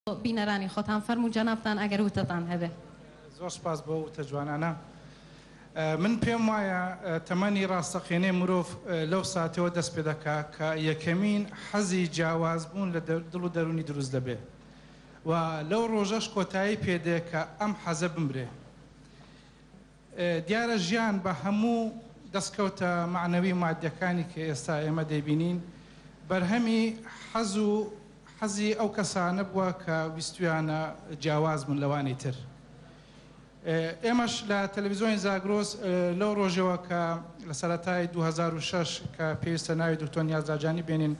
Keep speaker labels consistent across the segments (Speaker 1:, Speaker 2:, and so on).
Speaker 1: بینەرانی خۆتان فەرموو جەنابتان ئەگەر وتەتان هەبێ. زۆر سپاس بۆ ئەو وتە جوانانە. من پێم وایە تەمەنی ڕاستەقینەی مرۆڤ لەو ساتەوە دەست پێ دەکا کە یەکەمین حەزی جیاواز بوون لە دڵ و دەروونی دروست دەبێ و لەو ڕۆژەش کۆتایی پێ دێ کە ئەم حەزە بمرێ. دیارە ژیان بە هەموو دەستکەوتە مەعنەوی و ماددیەکانی کە ئێستا ئێمە دەیبینین بەرهەمی حەز و حەزی ئەو کەسانە بووە کە ویستویانە جیاواز بن لەوانی تر. ئێمەش لە تەلەفیزۆنی زاگرۆس لەو ڕۆژەوە کە لە سەرەتای دوو هەزار و شەش کە پێویستە ناوی دکتۆر نیاز لاجانی بێنین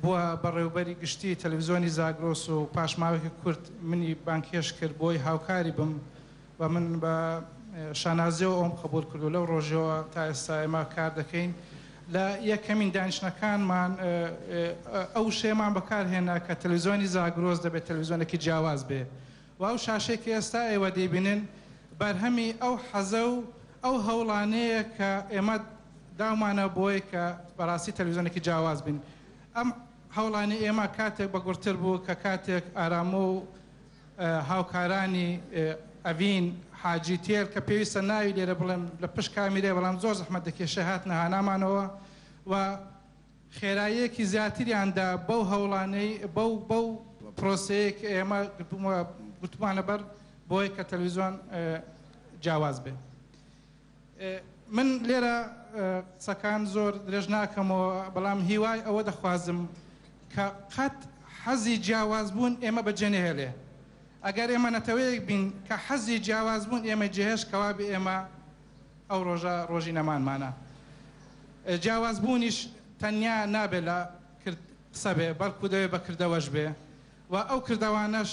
Speaker 1: بووە بەڕێوبەری گشتی تەلەفیزۆنی زاگرۆس و پاش ماوەیەکی کورت منی بانگهێشت کرد بۆی هاوکاری بم و من بە شانازیەوە ئەوم قبوڵ کرد و لەو ڕۆژەوە تا ئێستا ئێمە کار دەکەین لە یەکەمین دانیشتنەکانمان ئەو وشەیەمان بەکارهێنا کە تەلویزیۆنی زاگرۆس دەبێت تەلویزیۆنێکی جیاواز بێ و ئەو شاشەی کە ئێستا ئێوە دەیبینن بەرهەمی ئەو حەزە و ئەو هەوڵانەیە کە ئێمە داومانە بۆی کە بەڕاستی تەلویزیۆنێکی جیاواز بین ئەم هەوڵانی ئێمە کاتێک بەگوڕتر بوو کە کاتێک ئارامۆ و هاوکارانی ئەڤین حاجی تێر کە پێویستە ناوی لێرە بڵێم لە پشت کامیرای بەڵام زۆر زەحمەت دەکێشێ هاتنە هانامانەوە و خێراییەکی زیاتریان دا بەو هەوڵانەی بەو بەو پرۆسەیە کە ئێمە گرتوومە گرتوومانە بەر بۆیە کە تەلەویزیۆن جیاواز بێ. من لێرە قسەکان زۆر درێژ ناکەمەوە، بەڵام هیوای ئەوە دەخوازم کە قەت حەزی جیاوازبوون ئێمە بەجێ نەهێڵێ. ئەگەر ئێمە نەتەوەیەک بین کە حەزی جیاوازبوون ئێمە جێهێشت کەوابێ ئێمە ئەو ڕۆژە ڕۆژی نەمانمانە. جیاوازبوونیش تەنیا نابێ لە کرد قسە بێ، بەڵکوو دەبێ بە کردەوەش بێ و ئەو کردەوانەش،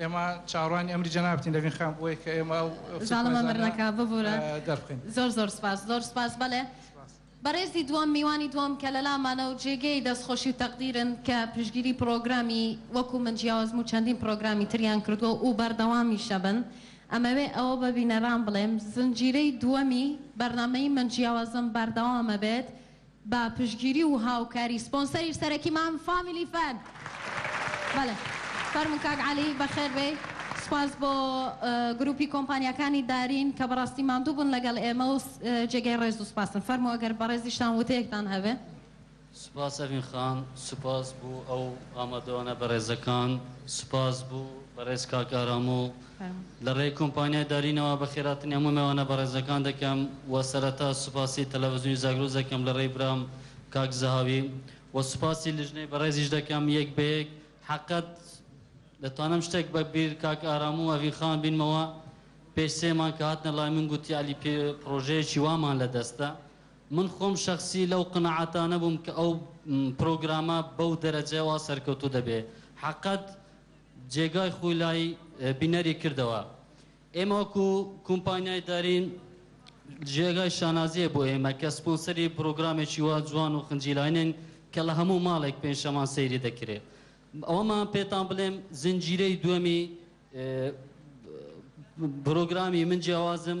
Speaker 1: ئێمە چاوەڕوانی ئەمری جەنابتین لەڤین خان بۆیە کە ئێمە ئەو زاڵمە مەر نەکا ببورە دەربخەین. زۆر زۆر سپاس زۆر سپاس بەلێ بەڕێزی دووەم میوانی دووەم کە لەلامانە و جێگەی دەستخۆشی و تەقدیرن کە پشتگیری پڕۆگرامی وەکو من جیاوازم و چەندین پڕۆگرامی تریان کردووە ئوو بەردەوامیش دەبن ئەمەوێ ئەوە بە بینەران بڵێم زنجیرەی دووەمی بەرنامەی من جیاوازم بەردەوامەبێت بە پشتگیری و هاوکاری سپۆنسەری سەرەکیمان فامیلی فەن بەڵێ فەرموو کاک عەلی بەخێربێی سوپاس بۆ گروپی کۆمپانیاکانی دارین کە بەڕاستی ماندوو بوون لەگەڵ ئێمە و جێگەی ڕێز و سوپاسن فەرموو ئەگەر بەڕێزیشتان وتەیەکتان هەبێ. سوپاس ئەڤین خان سوپاس بۆ ئەو ئامادەوانە بەڕێزەکان سوپاس بۆ بەڕێز کاک ئارام و لە ڕێی کۆمپانیای دارینەوە بە خێراترین هەموو مێوانە بەڕێزەکان دەکەم و سەرەتا سوپاسی تەلەڤزیۆنی زاگرۆس دەکەم لە ڕێی برام کاک زەهاوی و سوپاسی لیژنەی بەڕێزیش دەکەم یەک بە یەک حەقەت دەتوانم شتێک بە بیر کاک ئارام و ئەڤین خان بینمەوە پێش سێ مانگ کە هاتنە لای من گوتی عەلی پێ پڕۆژەیەکی وامان لە دەستە من خۆم شەخسی لەو قەناعەتانە بووم کە ئەو پڕۆگرامە بەو دەرەجەوە سەرکەوتوو دەبێ حەقەت جێگای خۆی لای بینەری کردەوە. ئێمە وەکو کومپانیای دارین جێگای شانازیە بۆ ئێمە کە سپۆنسەری پرۆگرامێکی وا جوان و خنجیلاینین کە لە هەموو ماڵێک پێنجشەمان سەیری دەکرێ. ئەوەمان پێتان بڵێم زنجیرەی دووەمی پرۆگرامی من جیاوازم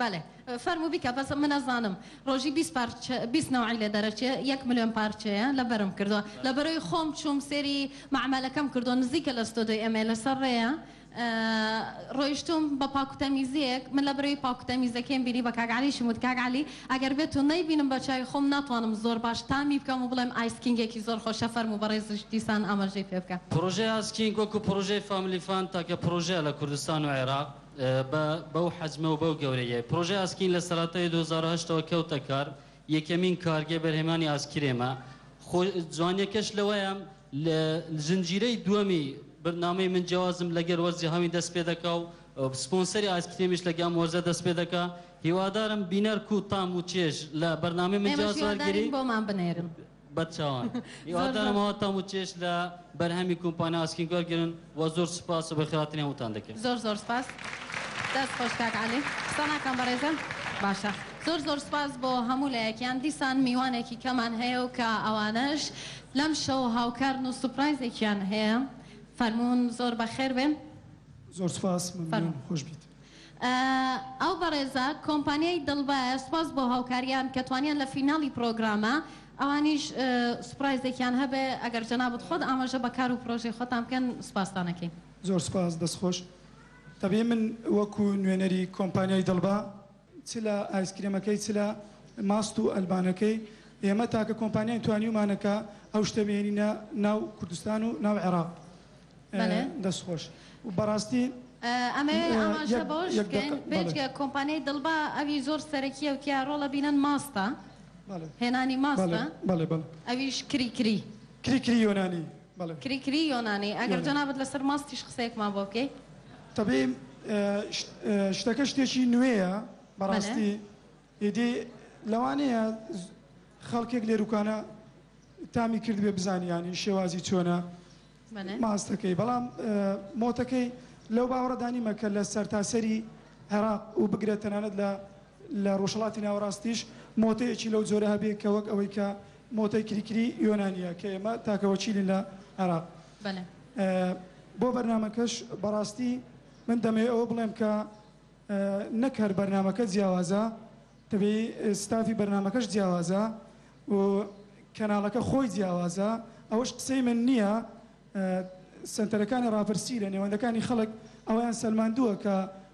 Speaker 1: بەلێ فەرموو بیکە بەس من ئەزانم رۆژی بیست پارچە بیست نەوعی لێ دەرەچێ یەک ملیۆن پارچەیە لەبەرم کردوە لەبەرەوەی خۆم چووم سێری مەعمەلەکەم کردوە نزیکە لە ستۆدۆی ئێمەی لەسەر رێیە رۆیشتوم بە پاکو تەمیزیەک من لەبەرەوەی پاکو تەمیزەکەیم بینی بە کاک عەلیشم وت کاک عەلی ئەگەر بێتو نەیبینم بە چاوی خۆم ناتوانم زۆر باش تامی بکەم و بڵێم ئایس کینگێکی زۆر خۆشە فەرموو بەڕێزیش دیسان ئاماژەی پێ بکە. پرۆژەی ئایس کینگ وەکو پرۆژەی فاملی فان تاکە پرۆژەیە لە کوردستان و عێراق. بە بەو حەجمە و بەو گەورەییەی پڕۆژەی ئاسکین لە سەرەتای دوو هەزار و هەشت ەوە کەوتە کار، یەکەمین کارگەی بەرهەمێانی ئاسکرێمە، خۆ جوانیەکەش لەوەیە لە زنجیرەی دووەمی بەرنامەی من جیوازم لەگەر وەرزی هاوین دەست پێ دەکا و سپۆنسەری ئاسکرێمیش لەگە ئەم وەرزە دەست پێ دەکا، هیوادارم بینەر کوو تام و چێژ لە بەرنامەی من جیواز وەرگری. بەرچاوان هیوادارم ئەوە تام و چێژ لە بەرهەمی کومپانیا ئاسکین وەرگرن و زۆر سوپاس و بەخێراتنی هەمووتان دەکەین. زۆر زۆر سپاس دەست خۆش کاک عەلی. قسە ناکەم بەڕێزم باشە. زۆر زۆر سپاس بۆ هەموو لایەکیان دیسان میوانێکی کەمان هەیە و کە ئەوانەش لەم شەو هاوکارن و سوپرایزێکیان هەیە فەرموون زۆر بەخێر بێن. زۆر سپاس مەمنون فەرموون. خۆش بیت. ئەو بەڕێزە کۆمپانیای دڵبایە سوپاس بۆ هاوکاریان کە توانیان لە فیناڵی پڕۆگرامە ئەوانیش سوپڕایزێکیان هەبێ ئەگەر جەنابت خۆت ئاماژە بە کار و پڕۆژەی خۆتان بکەن سوپاستان ئەکەین. زۆر سوپاس دەست خۆش. دەبێ من وەکو نوێنەری کۆمپانیای دڵبا چ لە ئایسکرێمەکەی چ لە ماست و ئەلبانەکەی ئێمە تاکە کۆمپانیاین توانیومانە کە ئەو شتە بهێنینە ناو کوردستان و ناو عێراق بەلێ دەست خۆش و بەراستی ئەمەوێ ئاماژە بەوەش بکەین بێجگە کۆمپانیای دڵبا ئەوی زۆر سەرەکییە و تیا ڕۆڵە بینەن ماستە هێنانی ماستە بەلێ بەلێ ئەویش کری کری کری کری یۆنانی. کری کری یۆنانی ئەگەر جەنابت لەسەر ماستیش قسەیەکمان بۆ بکەی. تەبعی شتەکە شتێکی نوێیە بەڕاستی ئیدی لەوانەیە خەڵکێک لێروکانە تامی کردبێ بزانی یانی شێوازی چۆنە ماستەکەی بەڵام مۆتەکەی لەو باوەڕەدا نیمە کە لە سەرتاسەری عێراق و بگرە تەنانەت لە لە ڕۆژهەڵاتی ناوەڕاستیش مۆتەیەکی لەو جۆرە هەبێ کە وەک ئەوەی کە مۆتەی کریکری یۆنانییە کە ئێمە تاکە وەکیلین لە عێراق. بۆ بەرنامەکەش بەڕاستی من دەمەوێ ئەوە بڵێم کە نەک هەر بەرنامەکە جیاوازە دەبێ ستافی بەرنامەکەش جیاوازە و کەناڵەکە خۆی جیاوازە ئەوەش قسەی من نییە سەنتەرەکانی ڕاپرسی لە نێوەندەکانی خەڵک ئەوەیان سەلماندووە کە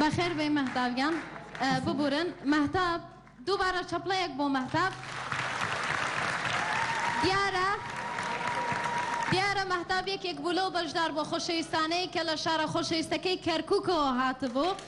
Speaker 1: بەخێربێی مەهتاب گیان ببورن مەهتاب دووبارە چەپڵەیەک بۆ مەهتاب دیارە دیارە مەهتاب یەکێک بوو لەو بەشدار بۆ خۆشەویستانەی کە لە شارە خۆشەویستەکەی کەرککەوە هاتبوو.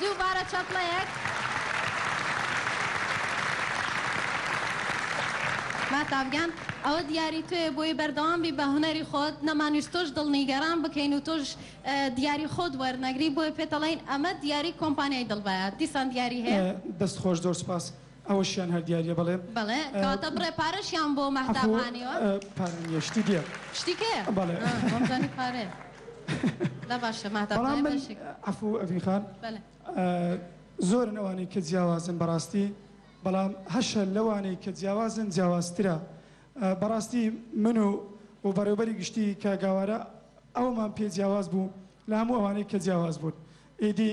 Speaker 1: دووبارە چەپڵەیەک. مەهتاب گیان ئەوە دیاری تۆیە بۆیە بەردەوام بی بە هونەری خۆت نەمانویست تۆش دڵ نیگەران بکەین و تۆش دیاری خۆت وەرنەگری بۆیە پێت ئەڵێین ئەمە دیاری کۆمپانیای دڵ بایە دیسان دیاری هەیە. دەست خۆش زۆر سوپاس ئەوەشیان هەر دیاریە بەڵێ. بەڵێ کەواتە بڕێ پارەشیان بۆ مەهتاب عەفوو هانیوە؟ پارە نیە شتی دیە شتی کێ؟ بەڵێ ها وامزانی پارەیە دا باشە مەهتاب بەڵام دەڵێ من بەشێک عەفوو ئەڤین خان بەلێ. زۆرن ئەوانەی کە جیاوازن بەڕاستی بەڵام هەشە لەوانەی کە جیاوازن جیاوازترە بەڕاستی من و و بەڕێوبەری گشتی کاک گاوارە ئەومان پێ جیاواز بوو لە هەموو ئەوانەی کە جیاواز بوون ئیدی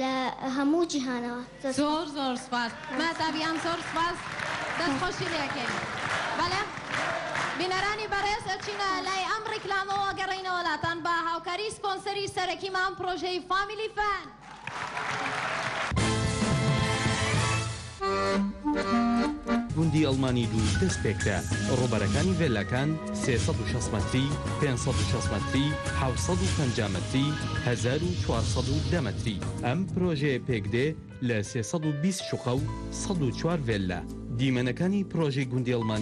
Speaker 1: لە هەموو جیهانەوە دەست خۆش. زۆر زۆر سوپاس مەهتاب گیان زۆر سوپاس دەست خۆشی لێ ئەکەین بەڵێ بینەرانی بەڕێز ئەچینە لای ئەم ڕیکلامەوە ئەگەڕێینەوە لاتان بە هاوکاری سپۆنسەری سەرەکیمان پڕۆژەی فامیلی فان. گوندی ئەڵمانی دوو دەستپێکرا، ڕووبەرەکانی ڤێلاکان سێ سەد و شەست مەتری، پێنج سەد و شەست مەتری، حەوت سەد و پەنجا مەتری، هەزار و چوار سەد و دە مەتری. ئەم پرۆژەیە پێکدێ لە سێ سەد و بیست شوقە و سەد و چوار ڤێللا. دیمەنەکانی پرۆژەی گوندی ئەڵمانی.